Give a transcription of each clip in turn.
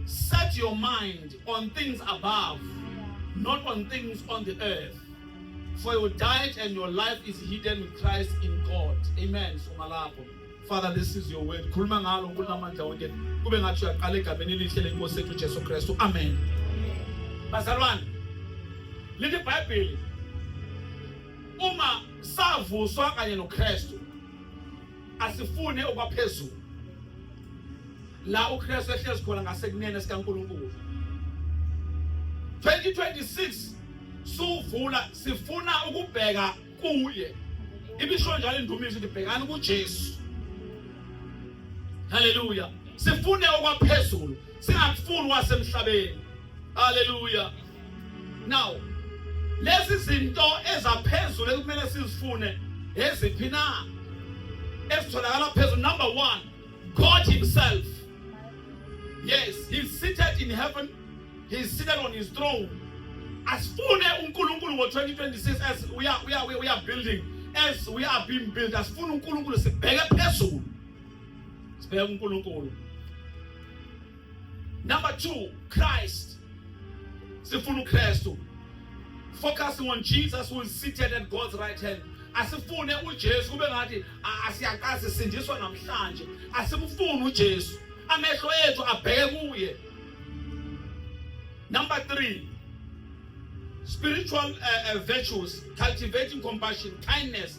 Set your mind on things above, not on things on the earth. For your diet and your life is hidden with Christ in God. Amen. Sumalako. Father, this is your word. Khuluma ngalo nkulamandla wonke. Kube ngathi uyaqala egameni elihle lenkosi ethu Jesu Kristu. Amen. Bazalwane, lithi iBhayibheli uma savuswa kanye noKristu asifune okwaphezulu la uKristu ehlezi khona ngasekunene sikaNkulunkulu 2026 suvula sifuna ukubheka kuye ibisho njalo indumiso ndibhekani kuJesu haleluya sifune okwaphezulu singakufuni wasemhlabeni haleluya now lezi zinto ezaphezulu ekumele sizifune eziphi na ezitholakala phezulu number one god himself yes he's seated in heaven he's seated on his throne asifune unkulunkulu ngo-2026 as we are, we are, we are building as we are being built asifune unkulunkulu sibheke phezulu sibheke unkulunkulu Number 2, Christ. Sifuna uKristu. Focusing on Jesus who is seated at God's right hand. Asifune uJesu kube ngathi asiyaqazi sindiswa namhlanje. Asimfuni uJesu. Amehlo ethu abheke kuye. Number 3, spiritual uh, uh, virtues, cultivating compassion, kindness,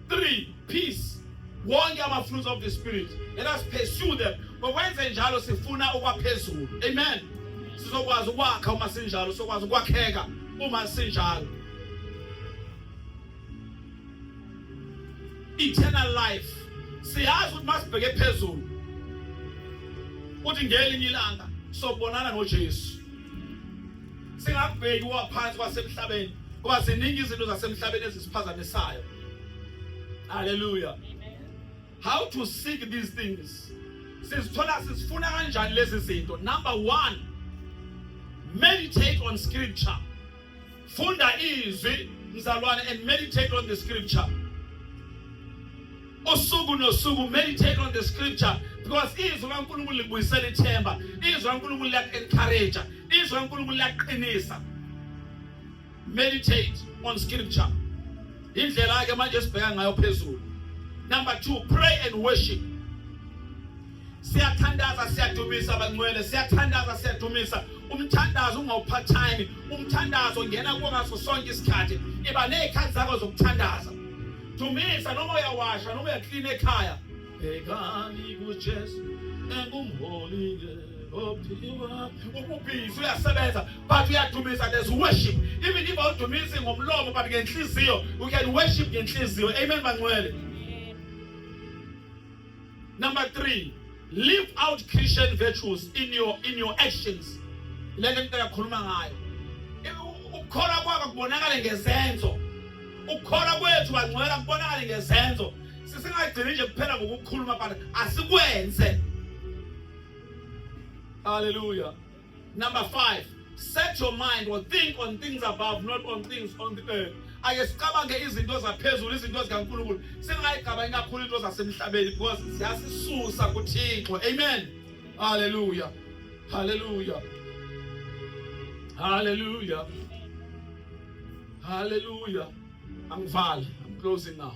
3 peace wonke ama fruits of the spirit let us pursue them ngokwenze njalo sifuna okwaphezulu amen sizokwazi ukwakha uma sinjalo sokwazi ukwakheka uma sinjalo eternal life siyazi ukuthi masibheke phezulu uthi ngelinye ilanga sobonana noJesu singakubheki waphansi kwasemhlabeni ngoba ziningi izinto zasemhlabeni ezisiphazamisayo haleluya how to seek these things sizithola sizifuna kanjani lezi zinto number one meditate on scripture funda izwi mzalwane and meditate on the scripture usuku nosuku meditate on the scripture because izwi kaNkulunkulu libuyisela ithemba izwi kaNkulunkulu liyaku-encourage izwi kaNkulunkulu liyaqinisa meditate on scripture indlela-ke manje esibheka ngayo phezulu number two pray and worship siyathandaza siyadumisa bangcwele siyathandaza siyadumisa umthandazo ungawuphathani umthandazo ngena kuwo ngaso sonke isikhathi iba ney'khathi zakho zokuthandaza dumisa noma uyawasha noma uyaklina ekhaya bhekani kujesu engumholile ububhizi uyasebenza but uyadumisa there's worship even if awudumisi ngomlomo but ngenhliziyo you can worship ngenhliziyo amen bangcwele Number three, live out Christian virtues in your, in your actions. Le nto yakhuluma ngayo. Ukukholwa kwakho kubonakale ngezenzo. Ukukholwa kwethu bangcwela kubonakale ngezenzo. Sisingagcini nje kuphela ngokukhuluma but asikwenze. Hallelujah. Number 5 set your mind or think on things above not on things on the earth ake sicabange izinto zaphezulu izinto zikaNkulunkulu singayigabani kakhulu into zasemhlabeni because ziyasisusa kuThixo amen haleluya haleluya haleluya haleluya angivali i'm closing now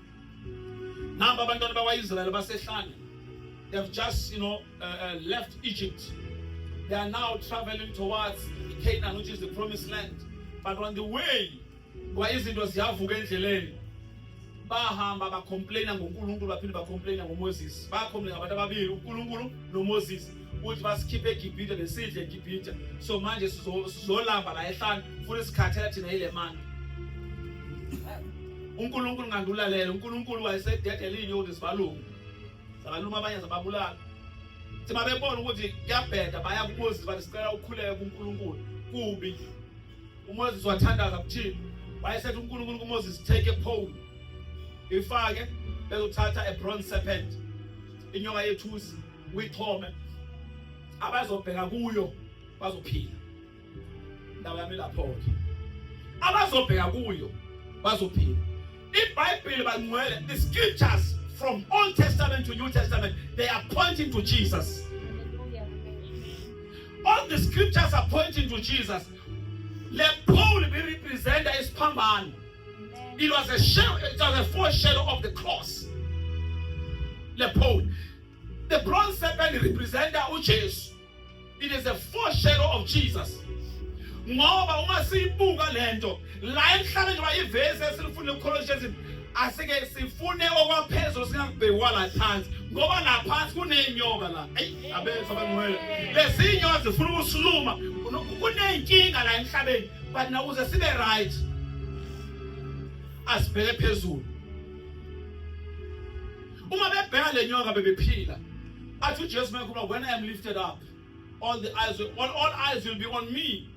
nabo abantwana bakwa-israyeli basehlane they have just you know uh, uh, left egypt they are now traveling towards canaan which is the promised land but on the way kwa izinto ziyavuka endleleni bahamba bacomplaina ngonkulunkulu baphinde bacomplaina ngomoses bacomplaina abantu ababili unkulunkulu nomoses ukuthi basikhiphe eGibhithe besidle eGibhithe so manje sizolamba la ehlane futhi sikhathela thina yile manje uNkulunkulu ngandulalela uNkulunkulu wayesededela inyoni zibalungu zabaluma abanye zababulala thi babebona ukuthi kuyabheda baya kuMoses bathi sicela ukhuleke kuNkulunkulu kubi uMoses wathandaza kuthini wayesethi uNkulunkulu kuMoses take a pole ifake bezothatha a bronze serpent inyoka yethusi uyixhome abazobheka kuyo bazophila indaba yami lapho ke abazobheka kuyo bazophila ibhayibheli bangcwele the scriptures from old testament to new testament they are pointing to jesus all the scriptures are pointing to jesus le pole be representa isiphambano it was a shadow it was a foreshadow of the cross le pole The bronze serpent representa uJesu. It is a foreshadow of Jesus. Ngoba uma siyibuka lento la emhlabeni njengoba ivesi esilifuna ukukholonisha izinto asike sifune okwaphezulu singakubhekwa la phansi ngoba la phansi kuneyinyoka la eyi abethu abangcwele lezi nyoka zifuna ukusiluma kuneyinkinga la emhlabeni but nakuze sibe right asibheke phezulu uma bebheka le nyoka bebephila athi ujesu mayekhuluma when i am lifted up all the eyes will, all, all eyes will be on me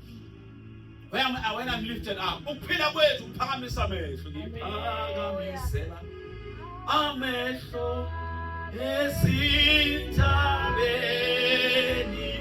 when I'm, uh, when I'm lifted up ukuphila kwethu kuphakamisa amehlo ngiphakamisela amehlo ezintabeni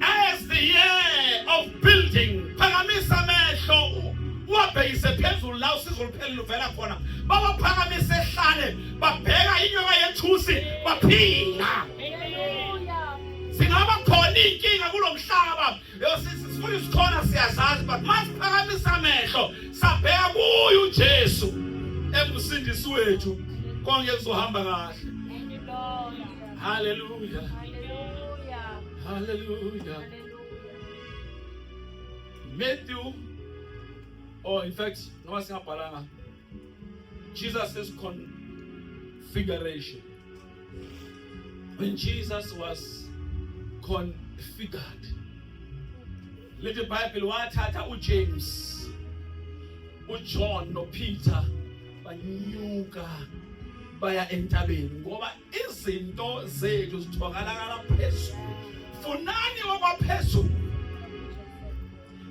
As the year of building, phakamisa amehlo uwabhekise phezulu la usizo lupheli luvela khona. Bawaphakamise ehlane, babheka inyoka yethusi, baphila. Singaba khona inkinga kulomhlaba. Yosisi sifuna isikhona siyazazi but masiphakamisa amehlo sabheka kuye uJesu engusindisi wethu konke kuzohamba kahle. Haleluya. Haleluya. Haleluya. Matthew or oh, in fact noma singabhalanga Jesus is configuration. When Jesus was configured. Little Bible wathatha uJames, uJohn noPeter banyuka baya entabeni ngoba izinto zethu zithokalakala phezulu funani okwaphezulu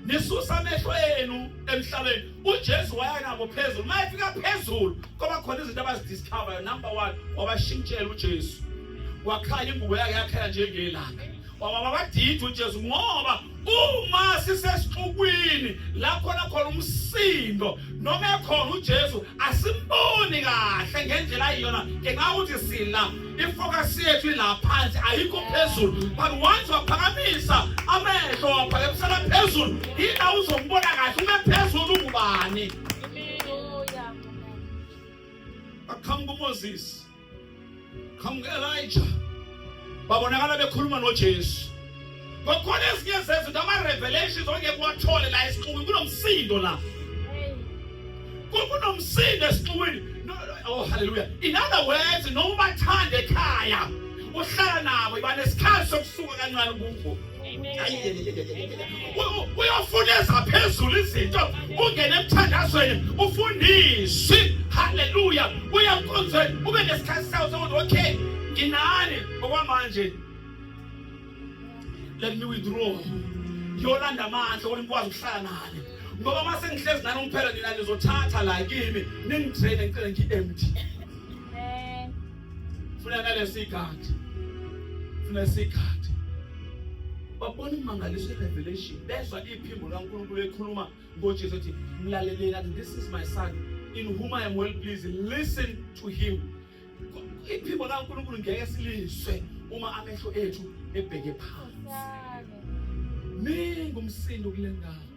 nisusa amehlo enu emhlabeni uJesu waya nabo phezulu mayefika phezulu koba khona izinto abazidiscover number 1 wabashintshela uJesu wakhaya ingubo yakhe yakhela njengelanga wababadidi uJesu ngoba uma sisesixukwini la khona khona umsindo noma ekhona uJesu asimboni kahle ngendlela ayiyona ngenxa ukuthi sila ifocus yethu ila phansi ayikho phezulu but once waphakamisa amehlo waphakamisela phezulu yila uzombona kahle ume phezulu ungubani baqhamuka uMoses qhamuke Elijah babonakala bekhuluma noJesu ngokukhona ezinye zezinto ama-revelations ongeke uwathole la esixukwini kunomsindo la kunomsindo esixukwini oh haleluya in other words noma ubathanda ekhaya uhlala nabo iba nesikhathi sokusuka kancane kubo uyofuneza phezulu izinto ungene emthandazweni ufundiswe haleluya uya nkonzweni ube nesikhathi sawo sokuthi okay nginani okwamanje let me withdraw ngiyolanda amandla ukuthi ngikwazi ukuhlala nani ngoba uma sengihlezi nani umphela nina nizothatha la kimi ningidraine ngicele ngi-empty funa ngalesikhathi funa isikhathi babona imangaliso irevelation bezwa iphimbo likaNkulunkulu ekhuluma ngoJesu ethi mlaleleni athi this is my son in whom I am well pleased listen to him iphimbo likaNkulunkulu ngeke silizwe uma amehlo ethu ebheke phansi ningi umsindo kule ndawo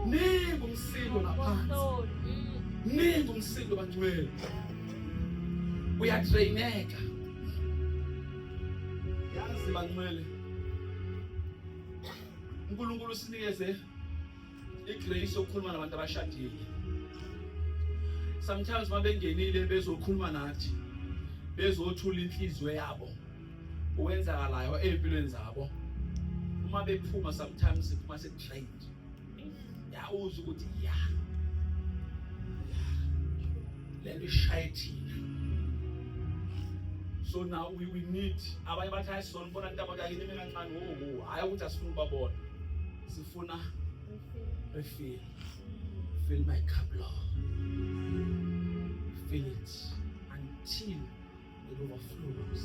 Ningi umsindo ngaphansi. Ningi umsindo bangcwele. Uyadraineka. Yazi bangcwele. uNkulunkulu usinikeze igrace yokukhuluma nabantu abashadile. Sometimes mabengenile bezokhuluma nathi bezothula inhliziyo yabo. uwenzakalayo ezimpilweni zabo uma bephuma sometimes uma setrained yawuza ukuthi ya lento ishaye thina so now we, we need abanye bathi hayi sona bona into abakayini mina kancane wo oh, oh, hayi ukuthi asifuni ubabona sifuna refill fill my cup lord fill it until it overflows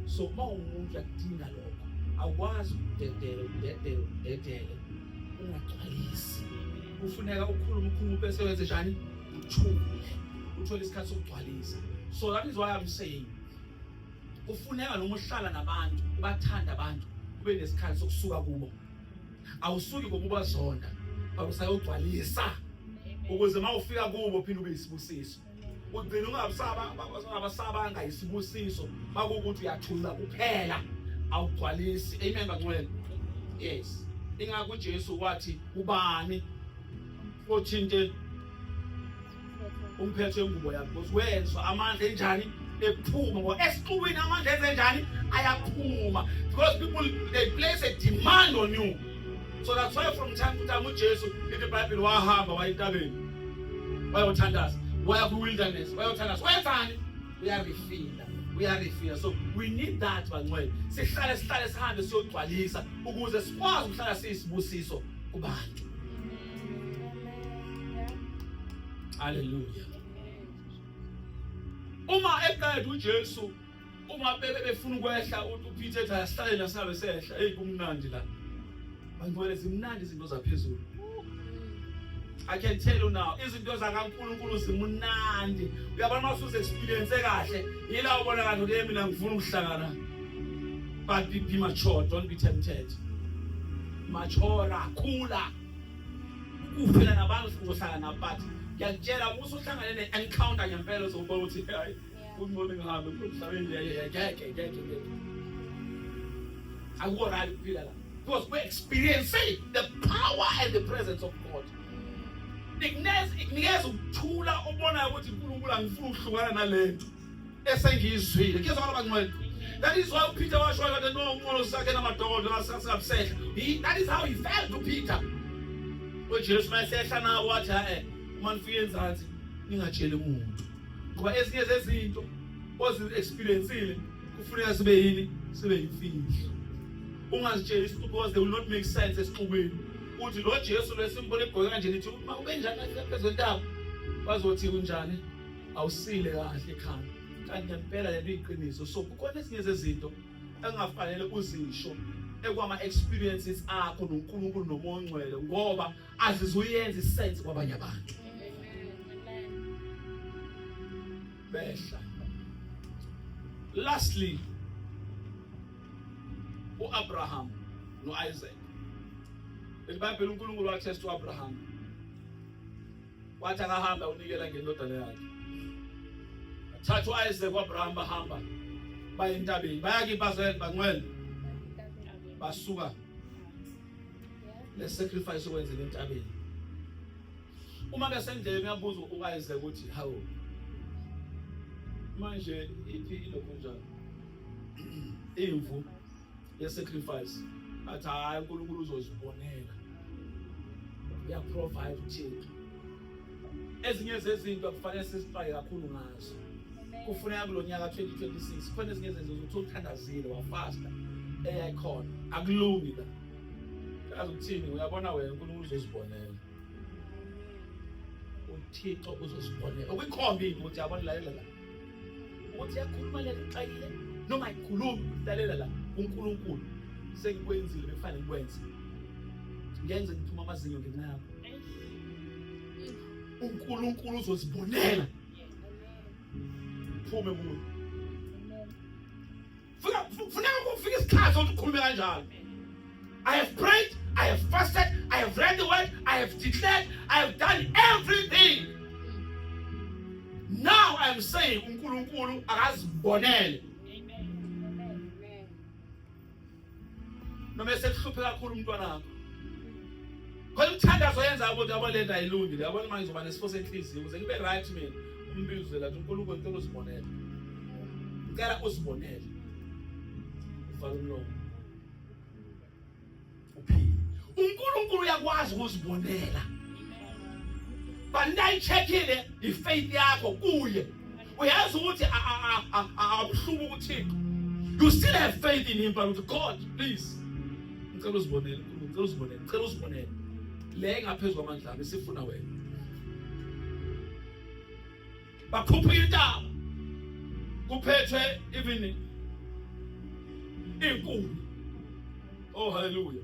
so uma umuntu akudinga lokho awukwazi ukudedela ukudedela ukudedela ungagcwalisi kufuneka ukhulume ukhulume bese wenze njani uthule uthole isikhathi sokugcwalisa so that is why i'm saying kufuneka noma uhlala nabantu ubathanda abantu ube nesikhathi sokusuka kubo awusuki ngokubazonda but usayogcwalisa ukuze uma ufika kubo phinde ube yisibusiso ugcina ungabasabanga isibusiso bakukuthi uyathula kuphela awugcwalisi amen bangcwele yes ingakho uJesu wathi ubani othinte umphethe ingubo yakhe because wezwa amandla enjani ephuma ngoba esixukwini amandla enze njani ayaphuma because people they place a demand on you so that's why from time to time uJesu ithi iBhayibheli wahamba wayentabeni wayothandaza waya kwi-wilderness wayothandaza wayenzani uyarifila uyarifila so we need that bangcwele sihlale sihlale sihambe siyogcwalisa ukuze sikwazi ukuhlala siyisibusiso kubantu haleluya uma eqeda ujesu uma bebe befuna ukwehla uPeter ethi asihlale la sabe sehla hey kumnandi la bangibona zimnandi izinto zaphezulu I can tell you now izinto zakaNkuluNkulu zimunandi uyabona masuze experience kahle yila ubona kanti uke mina ngifuna ukuhlangana but be, be mature don't be tempted mature khula ukufela nabantu sizohlangana but ngiyakutshela musa uhlangane ne encounter ngempela uzobona ukuthi hayi Kungcono ngihambe kulomhlabeni ngeke ngeke ngeke. Akuwo right ukuphila la. Because we're experiencing the power and the presence of God. Nginikeza ukuthula obonayo ukuthi uNkulunkulu angifuni ukuhlukana nalento esengiyizwile. Kuyezwa abantu abangcwele. That is why Peter was showing that no one was second my door, the last person upset. He, that is how he felt to Peter. When Jesus Christ said, Shana, watch her, man, fear and ngingatsheli muntu ngoba ezinye zezinto ozi-experiencile kufuneka sibe yini sibe yimfihlo ungazitsheli isixuku because they will not make sense esixukweni uthi lo jesu lwesimbona egqoke kanje nithi uma ubenjani kahle phezentaba bazothi unjani awusile kahle ekhanda kanti ngempela lento iyiqiniso so kukhona ezinye zezinto engafanele uzisho ekwama-experiences akho nonkulunkulu nomoya ongcwele ngoba azizuyenza isense kwabanye abantu behla lastly uAbraham noIsaac elibhayibheli uNkulunkulu wathesta uAbraham wathi akahamba unikela ngendodana yakhe thatha uIsaac uAbraham bahamba baye entabeni bayakipazela bangcwele basuka le sacrifice okwenzile entabeni uma besendlele uyabuza uKayise ukuthi hawu manje iphi ilokho njalo imvu ye sacrifice athi hayi uNkulunkulu uzozibonela ya provide thina ezinye zezinto kufanele sizixwaye kakhulu ngazo kufuneka kulo nyaka 2026 kufanele ezinye zezinto ukuthi uthandazile wafasta eyayikhona akulungi la kazi ukuthini uyabona wena unkulunkulu uzozibonela uthixo uzozibonela ukwikhombi ukuthi yabona lalela la ukuthi yakhuluma leli xayile noma ayikhulumi lalela la unkulunkulu sengikwenzile bekufanele ngikwenze ngenze ngithuma amazinyo ngenxa yakho uNkulunkulu uzozibonela phume kuyo funa funa ukufika isikhathi ukuthi ukhulume kanjalo I have prayed, I have fasted, I have read the word, I have declared, I have done everything. Now I am saying uNkulunkulu akazibonele. noma esekuhluphe kakhulu umntwana wakho khona umthandazo oyenza ukuthi yabo lento ayilungile yabona manje ngizoba nesifo senhliziyo ukuze ngibe right mina umbizo la uNkulunkulu ngicela uzibonele ngicela uzibonele uvala umlomo uphile uNkulunkulu uyakwazi ukuzibonela but nayithethile ifaith yakho kuye uyazi ukuthi akuhluka ukuthixo you still have faith in him but god please ngicela uzibonele ngicela uzibonele ngicela uzibonele le ngaphezu kwamandla ami sifuna wena bakhupha intaba kuphethwe even inkulu oh hallelujah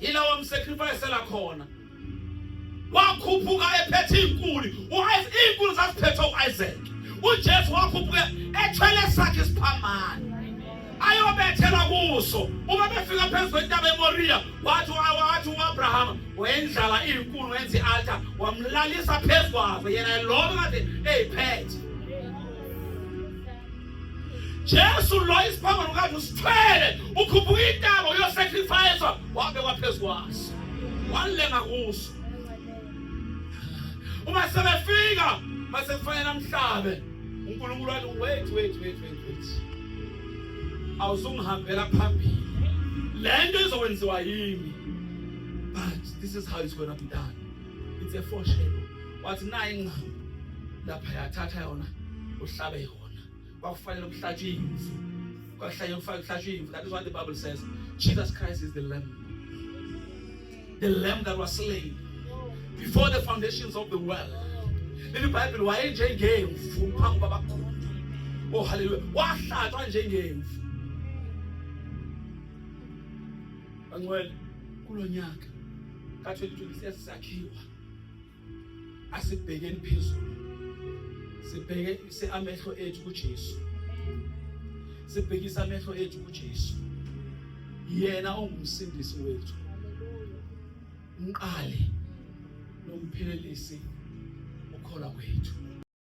ila wamsacrificela khona wakhuphuka ephethe inkulu inkulu zasiphethe u-isaac ujesu wakhuphuka ethwele sakhe isiphambane ayobethelwa kuso uma befika phezu kwentaba emoriya wathi wathi uabrahama wendlala iyinkulu wenza i-alta wamlalisa phezu kwazo yena loko kade eyiphethe Jesu lo isiphambano kanje usithwele ukhuphuka intaba uyosacrifice wabe kwaphezu kwaso walenga kuso uma sebefika mase kufanele amhlabe uNkulunkulu wathi wait wait wait wait wait awuzungihambela phambili lento izokwenziwa yimi but this is how it's going to be done it's a foreshadow wathi naye ingqamu lapha yathatha yona uhlabe yona kwakufanele kuhlatshwe imvu kwakuhlanye kufanele kuhlatshwe imvu that is what the bible says jesus christ is the lamb the lamb that was slain before the foundations of the world leli bhayibheli wayenjengemvu phambi kwabakhulu oh haleluya wahlatshwa njengemvu bangcwele kulo nyaka Ka-2020 siyasakhiwa. Asibhekeni phezulu. Sibheke seamehlo ethu kuJesu. Sibhekisa amehlo ethu kuJesu. Yena ongumsindisi wethu. Umqali nomphelelisi ukhona kwethu.